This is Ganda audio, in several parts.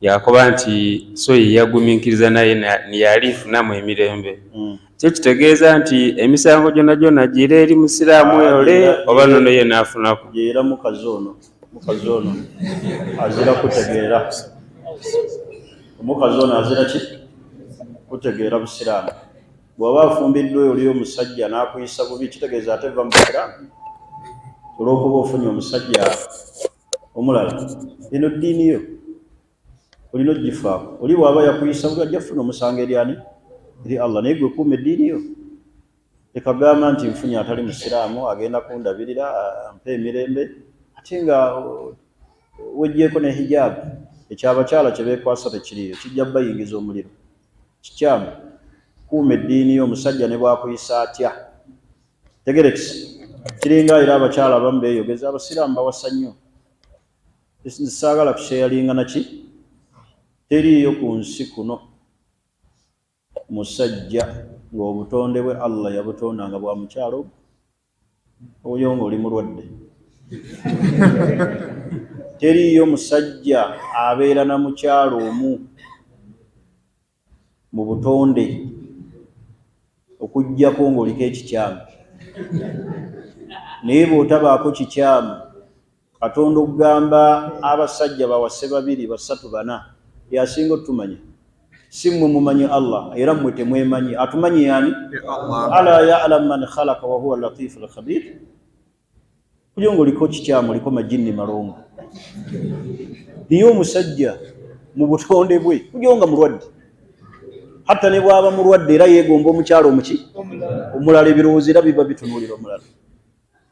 yakoba nti so yeyaguminkiriza naye niyalifunamu emirembe hmm. kyo kitegeeza nti emisango gyona gyona gira eri musiraamu ah, ole oba nono ye nafunaku era mukazi ono mukazi ono azira kutegeera omukazi ono azira ki kutegeera busiraamu bwaba afumbiddwa oli omusajja nakuyisa bubi kitegeeza ate va mu busiraamu olwokuba ofunye omusajja omulala eno ddiini yo olina ogifaako oli bwaba yakuyisa buli ajja kufuna omusango eri ani eri allah naye gwe kuuma eddiini yo ekagamba nti nfunye atali musiraamu agenda kundabirira ampa emirembe ate nga wejjeeko ne hijaabu ekyabakyala kye beekwasa tekiriyo kijja bayingiza omuliro kikyamu kuuma eddiini yo omusajja ne bwakuyisa atya tegerekisi kiringa era abakyala abamu beyogeza abasiraamu bawasa nnyo saagala kusheyalinga naki teriiyo ku nsi kuno musajja ng'obutonde bwe allah yabutonda nga bwa mukyalo oyo ng'oli mulwadde teriiyo musajja abeera na mukyalo omu mu butonde okuggyako ng'oliko ekikyamu. Naye bw'otabaako kikyamu, Katonda okugamba abasajja bawase babiri, basatu, bana, y'asinga otumanya. Si mmwe mumanyi Allah, era mmwe temwemanyi. Atumanyi y'ani? Alaa ya'lamu man khalaqa wa huwa al-latiifu al-khabiir. Kulyo ngoliko kikyamu oliko majinni malongo. Niye omusajja mu butonde bwe kulyo nga mulwadde. Hatta ne bwaba mulwadde era yegomba omukyalo omuki omulala ebirowoozo era biba bitunuulira omulala.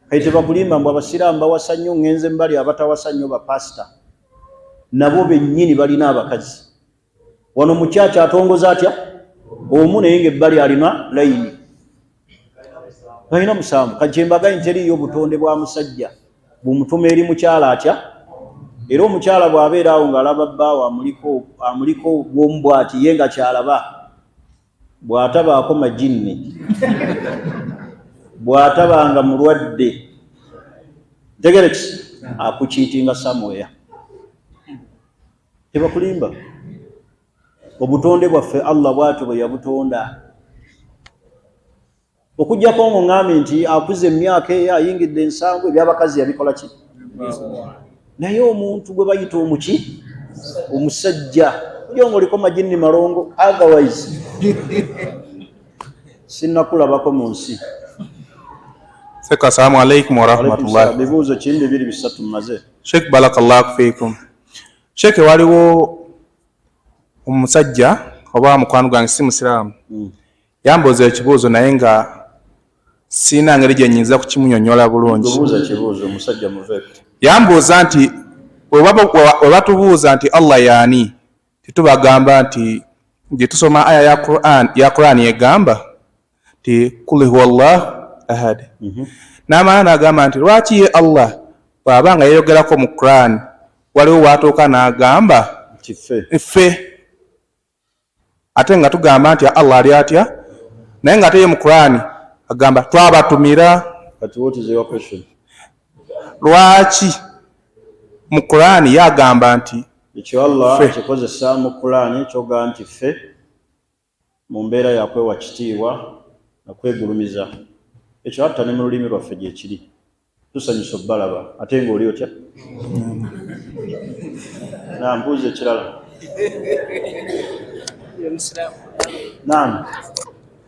Kati tebakulimba mbu abasiraamu bawasa nnyo ngenze mbali abatawasa nnyo ba pastor nabo bennyini balina abakazi. wano mukyakya atongoza atya omu naye nga ebbali alina layini alina musanvu kakyembaga nteriyo obutonde bwa musajja bumutuma eri mukyala atya era omukyala bw'abeera awo ng'alaba bbaawo amuliko amuliko bwomu bwati ye nga kyalaba bw'atabaako majinni bw'ataba nga mulwadde ntegereki akukiitinga samuweya tebakulimba obutonde bwaffe allah bwatyo bwe yabutonda okujjako ngo ŋambe nti akuze emyaka eyo ayingidde ensangu ebyabakazi yabikola ki naye omuntu gwe bayita omuki omusajja ojo nga oliko majinni malongo otherwise sinakulabako mu nsi seka salamu alaikum warahmatullahi bibuuzo kimu bibiri bisatu maze sheikh barakallahu fikum sheeke waliwo omusajja oba mukwano gwange si musiraamu hmm. yambuuza ekibuuzo naye nga siina ngeri gye nyinza kukimunyonyola bulungi yambuuza nti webatubuuza nti allah yaani tetubagamba nti gye tusoma aya ya qurani egamba ti kuli huwa llah ahad mhm. namala nagamba nti lwaki ye allah bwaba nga yeyogerako mu quran waliwo watuuka nagamba ffe ate nga tugamba nti allah ali atya naye nga ate ye mu quran agamba twabatumira lwaki mu quran ye agamba nti ekyo allah akikozesa mu quran kyoga nti ffe Mu mbeera ya kwewa kitiibwa na kwegulumiza, ekyo hatta ne mu lulimi lwaffe gyekiri. Tusanyuse obbalaba. Ate nga oli otya? Naam, buuza ekirala. Naam.